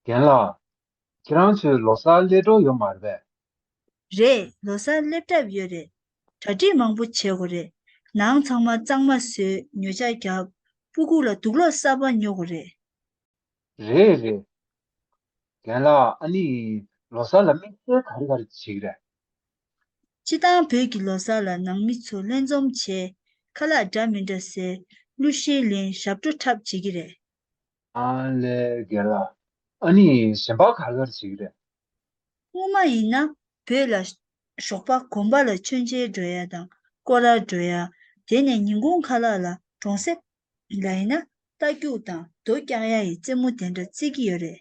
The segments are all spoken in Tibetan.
རྒན་ལགས། ཁྱེད་རང་ཚོའི་ལོ་སར་སླེབས་གྲབས་ཡོད་མ་རེད་པས། རེད་ལོ་སར་སླེབས་གྲབས་ཡོད་རེད། གྲ་སྒྲིག་མང་པོ་བྱེད་དགོས་རེད། ནང་ཚང་མ་གཙང་མ་བཟོས་ཉོ་ཆ་རྒྱབ། སྤུ་གུག་ལ་དུག་སློག་གསར་པ་ཉོ་དགོས་རེད། རེད་རེད། རྒན་ལགས་ཨ་ནི་ལོ་སར་ལ་དམིགས་བསལ་ག་རེ་ག་རེ་བྱེད་ཀྱི་རེད། སྤྱི་བཏང་བོད་ཀྱི་ལོ་སར་ལ་ནང་མི་ཚོ་ལྷན་འཛོམས་བྱས། ཁ་ལག་འདྲ་མི་འདྲ་ཟེར། གླུ་གཞས་ལེན་ཞབས་བྲོ་འཁྲབ་བྱེད་ཀྱི་རེད། ཨ་ལེ་རྒན་ལགས་ཨ་ནི་གཞན་པ་ག་རེ་ག་རེ་བྱེད་ཀྱི་རེད། སྔོན་མ་ཡིན་ན་བོད་ལ། ཞོགས་པ་གོམ་པ་ལ་མཆོད་མཇལ་འགྲོ་ཡ་དང་སྐོར་ར་འགྲོ་ཡ། དེ་ནས་ཉིན་གུང་ཁ་ལག་ལ་གྲོང་གསེབ། ལ་ཡིན་ན་རྟ་རྒྱུག་དང་རྡོ་བཀྱག་ཡ་ཡི་རྩེད་མོ་དེ་འདྲ་རྩེད་ཀྱི་ཡོད་རེད་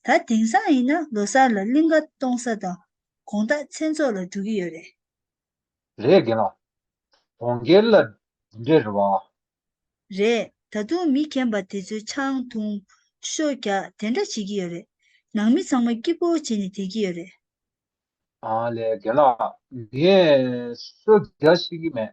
ད། དེང་སང་ཡིན་ན་ལོ་སར་ལ་གླིང་ཁ་གཏོང་ས་དང་གོང་ལྟག་མཚན་ཚོགས་ལ་འགྲོ་གི་ཡོད་རེད། རེད་དགེ་ལགས། གྲོང་ཁྱེར་ལ་འདི་འདྲའི་རེ་བ། རེད། ད་དུང་མི་གྱེན་པ་དེ་ཚོའི་ཆང་འཐུང། ཤོ་རྒྱག་དེ་འདྲ་བྱེད་ཀྱི་ཡོད་རེད། ནང་མི་ཚང་མ་སྐྱིད་པོ་བྱེད་ནས་བསྡད་ཀྱི་ཡོད་རེད། ལས་དགེ་ལགས། ངས་ཤོ་རྒྱག་ཤེས་ཀྱི་མེད།